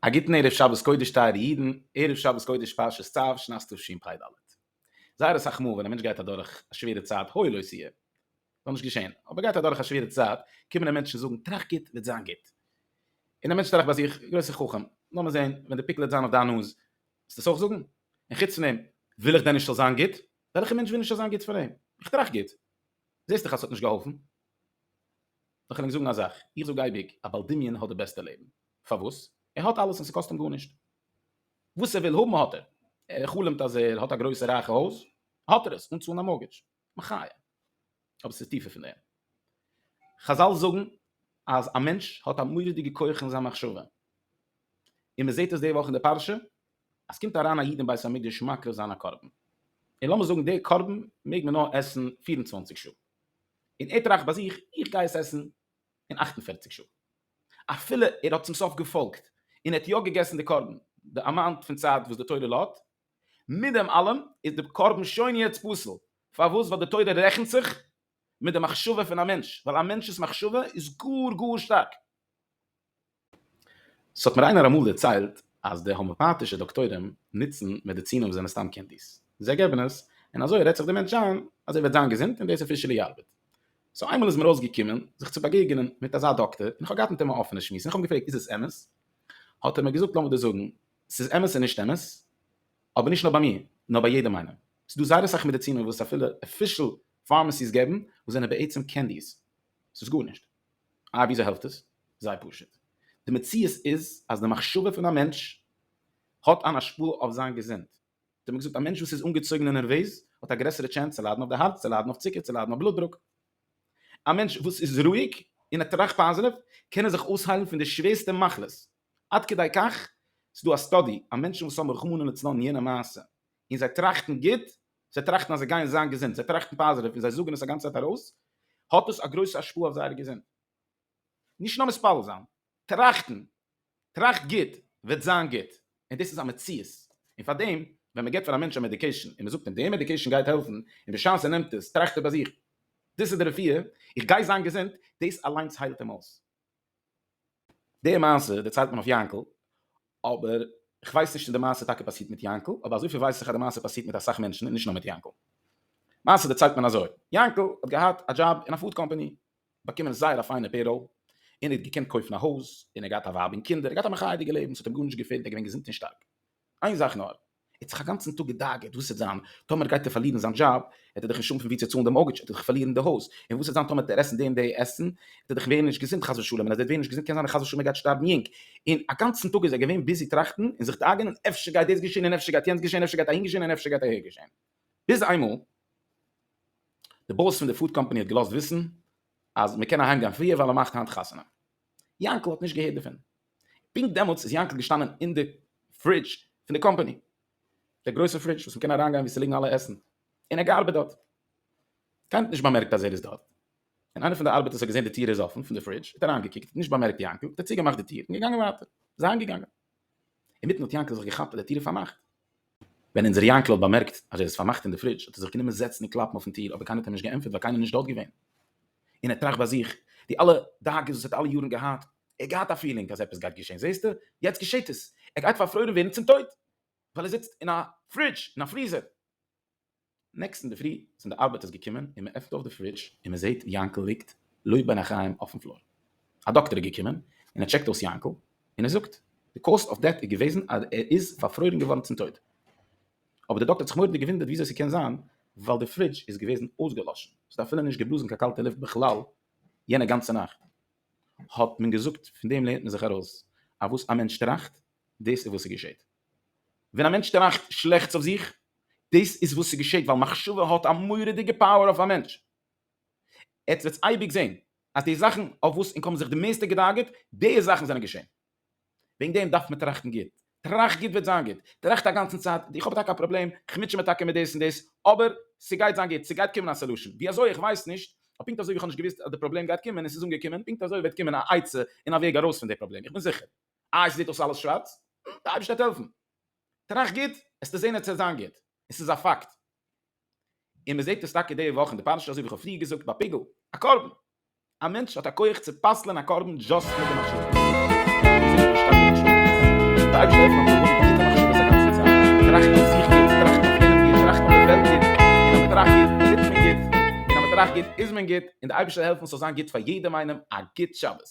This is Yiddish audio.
א גוטן ערב שבת קודש טייערע אידן, ערב שבת קודש פרשת צו, שנת תשפ ד. זייער אסאך מאל ווען א מענטש גייט אדורך א שווערע צייט, הוי לא סייע, זאל נישט געשען, אבער גייט אדורך א שווערע צייט, קומען אים מענטשן זאגן טראכט גוט וועט זיין גוט. און דער מענטש טראכט ביי זיך, גרויסער חכם, לאמיר זען, ווען די פיקל וועט זיין אויף דיין נאז, וועסט עס אויך זאגן? און חוץ פון דעם, וויל איך דען נישט ס'זאל זיין גוט? וועלכע מענטש וויל נישט ס'זאל זיין גוט פאר אים? איך טראכט גוט. זעסט דאך אז ס'האט נישט געהאלפן. לאך ענק זאגן א זאך. איך זאג אייביג, א בעל דמיון האט די בעסטע לעבן. פארוואס? ער האט אלעס און ס'קאסט אים גארנישט. וואס ער וויל האבן האט ער. ער חלומ'ט אז ער האט א גרויסע רייכע הויז, האט ער עס, אן צאלן א מארגעדזש. מחיה. אבער ס'איז טיפער פון דעם. חזל זאגן אז א מענטש האט א מורא'דיגע כח אין זיין מחשבה. און מען זעט עס די וואך אין די פרשה, אז ס'קומט אריין א איד אין בית המקדש מקריב זיין א קרבן. און לאמיר זאגן די קרבן מעג מען נאר עסן פֿיר און צוואַנציק שעה. און ער טראכט ביי זיך, איך גיי עס עסן אין אַכט און פֿערציק שעה. אפילו ער האט צום סוף געפאלגט, און ער האט יא געגעסן די קרבן, די אמאונט פון צייט וואס די תורה לאט, מיט דעם אלעם איז די קרבן שוין יעצט פסול, פארוואס ווייל די תורה רעכנט זיך מיט די מחשבה פון א מענטש, ווייל א מענטש'ס מחשבה איז גאר גאר שטארק. ס'האט מיר איינער אמאל דערציילט אז די האמעפאטישע דאקטוירים נוצן מעדיצינען וואס זענען סתם קענדיס, זיי געבן עס און אזוי רעדט זיך די מענטש איין אז ער וועט זיין געזונט און דאס אפישעלי ארבעט. סאו איינמאל איז מיר אויסגעקומען זיך צו באגעגענען מיט אזא דאקטער און איך האב געהאט מיט אים א אפענע שמועס און איך האב אים געפרעגט איז עס אמת? האט ער מיר געזאגט לאמיר דיר זאגן ס'איז אמת און נישט אמת, אבער נישט נאר ביי מיר, נאר ביי יעדעם איינעם. ס'איז דא זייער אסאך מעדיצינען וואס אפילו אפישעל פארמעסיס געבן, וואס זענען בעצם קענדיס. ס'איז גארנישט. איי וויאזוי העלפט עס? זייער פשוט. די מציאות איז אז די מחשבה פון א מענטש האט אן השפעה אויף זיין געזונט. האט מען געזאגט א מענטש וואס איז אנגעצויגן און נערוועז האט א גרעסערע טשענס צו ליידן אויף די הארץ, צו ליידן אויף צוקער, צו ליידן אויף בלוט דרוק. א מענטש וואס איז רואיג און ער טראכט פאזיטיוו, קען ער זיך אויסהיילן פון די שווערסטע מחלות. עד כדי כך, ס'איז דא א סטאדי אז מענטשן וואס האבן רחמנא לצלן יענע מעשה, און זיי טראכטן גוט, זיי טראכטן אז זיי גייען זיין געזונט, זיי טראכטן פאזעטיוו און זיי זאגן עס א גאנצע צייט ארויס, האט עס א גרויסע השפעה אויף זייערע געזונט. נישט נאר מתפלל זיין, טראכטן, טראכט גוט, וועט זיין גוט, און דאס איז א מציאות. און פאר דעם, ווען מען געבט פאר א מענטש א מעדיקעישן, און מען זאגט אים, די מעדיקעישן גייט העלפן, און בשעת ער נעמט עס, טראכט ער ביי זיך, דאס איז די רפואה, איך גיי זיין געזונט, דאס אליינס היילט אים אויס. די מעשה דערציילט מען אויף יענקל, אבער כ'ווייס נישט צו די מעשה טאקע פאסירט מיט יענקל, אבער אזויפיל ווייס איך אז די מעשה פאסירט מיט אסאך מענטשן און נישט נאר מיט יענקל. מעשה דערציילט מען אזוי, יענקל האט געהאט א דזשאב אין א פוד קאמפאני, באקומען זייער א פיינע פעיראל, און ער האט געקענט קויפן א הויז, און ער האט געהאט א ווייב און קינדער, ער האט געהאט א מחייה'דיגע לעבן, ס'האט אים גארנישט געפעלט, ער איז געווען געזונט און שטארק. איין זאך נאר. ער האט זיך אגאנצן טאג געדאגה'ט וואס וועט זיין טאמער גייט ער פארלירן זיין דזשאב, וועט ער דאך נישט האבן פון ווי צו צאלן די מארטגעדזש, ער וועט דאך פארלירן די הויז, און וואס וועט זיין טאמער וועט ער עסן די און די עסן, וועט ער דאך ווערן נישט געזונט חס ושלום, און אז ער וועט ווערן נישט געזונט קען זיין אז חס ושלום ער גייט שטארבן יונג, און אגאנצן טאג איז ער געווען ביזי טראכטן און זיך דאגה'נען אפשר גייט דאס געשען און אפשר גייט יענץ געשען, אפשר גייט אהין געשען און אפשר גייט אהער געשען, ביז איינמאל די באס פון די פוד קאמפאני האט געלאזט וויסן אז מען קען אהיים גיין פריער ווייל ער מאכט היינט חתונה, יאנקל האט נישט געהערט דערפון. פונקט דעמאלטס איז יענקל געשטאנען אין די פרידזש פון די קאמפאני, דער גרויסער פרידזש וואס מ'קען אריינגיין וואו ס'ליגן אלע עסן, און ער האט געארבעט דארט. קיינער האט נישט באמערקט אז ער איז דארט. ווען איינער פון די ארבעטערס האט געזען די טיר איז אפן פון די פרידזש האט ער אריינגעקוקט, נישט באמערקט יענקל, האט ער צוגעמאכט די טיר און געגאנגען ווייטער. זיי אהיימגעגאנגען. אינמיטן האט יענקל זיך געכאפט אז די טיר איז פארמאכט. ווען אונזער יענקל האט באמערקט אז ער איז פארמאכט אין די פרידזש האט ער זיך גענומען זעצן און קלאפן אויפן טיר אבער קיינער האט אים נישט געענטפערט ווייל קיינער איז נישט דארט געווען און ער טראכט ביי זיך די אלע דאגות וואס ער האט אלע יארן געהאט ער האט געהאט א פילינג אז עפעס גייט געשען זעהסטו יעצט געשעהט עס ער גייט פארפרוירן ווערן צום טויט ווייל ער זיצט אין א פרידזש אין א פריזער. נעקסטן אינדערפרי זענען די ארבעטערס געקומען און מ'עפנט אויף די פרידזש און מ'זעהט יענקל ליגט לא בין החיים אויפן פלאר. א דאקטער איז געקומען און ער טשעקט אויס יענקל און ער זאגט די קאוז אוו דעט איז געוועזן אז ער איז פארפרוירן געווארן צום טויט. אבער די דאקטער האט זיך מורא'דיג געוואונדערט וויאזוי ס'קען זיין ווייל די פרידזש איז געוועזן אויסגעלאשן, ס'האט אפילו נישט געבלאזן קיין קאלטע לופט בכלל יענע גאנצע נאכט. האט מען געזאגט פון דעם לערנט מען זיך ארויס אז וואס א מענטש טראכט דאס איז וואס ס'געשעהט. ווען א מענטש טראכט שלעכטס אויף זיך, דאס איז וואס ס'געשעט ווייל מחשבה האט א מורא'דיגע פאוער אויף א מענטש. עטס וועטס אייביג זען אז די זאכן אויף וואס ענק האבן זיך די מערסטע געדאגה'ט, די זאכן זענען געשען. וועגן דעם דארף מען טראכטן גוט. טראכט גוט וועט זיין גוט. טראכט א גאנצן צייט, איך האב טאקע א פראבלעם, איך מוטשע מיר טאקע מיט דאס און דאס, אבער ס'גייט זיין גוט, ס'גייט קומען א סעלושען. ווי אזוי? איך ווייס נישט. אבער פונקט אזוי ווי איך האב נישט געוואוסט אז די פראבלעם גייט קומען און ס'איז אנגעקומען, פונקט אזוי וועט קומען א עצה און א וועג ארויס פון די פראבלעם. איך בין זיכער. איי ס'זעט אויס אלעס שווארץ? נו, די אייבערשטער וועט העלפן. טראכט גוט, עסטו זען עס צו זיין גוט. און ס'איז א פאקט. און מ'זעט עס טאקע די וואך אין די פרשה אזוי ווי כ'האב פריער געזאגט ביי פיגול, א קרבן. א מענטש האט א כח צו פסל'ען א קרבן דזשאסט מיט די מחשבה. און ס'איז נישט נישטא קיין מחשבה דערפון. די אייבערשטער העלפט מיין פנים פשוט'ע מחשבות א גאנצע צייט. טראכט אויף זיך גוט, טראכט אויף יענעם גוט, טראכט אויף די וועלט גוט. און אז מ'טראכט גוט, טוט מען גוט. און אז מ'טראכט גוט, איז מען גוט. און די אייבערשטער העלפן ס'זאל זיין גוט פאר יעדעם איינעם. א גוט שבת.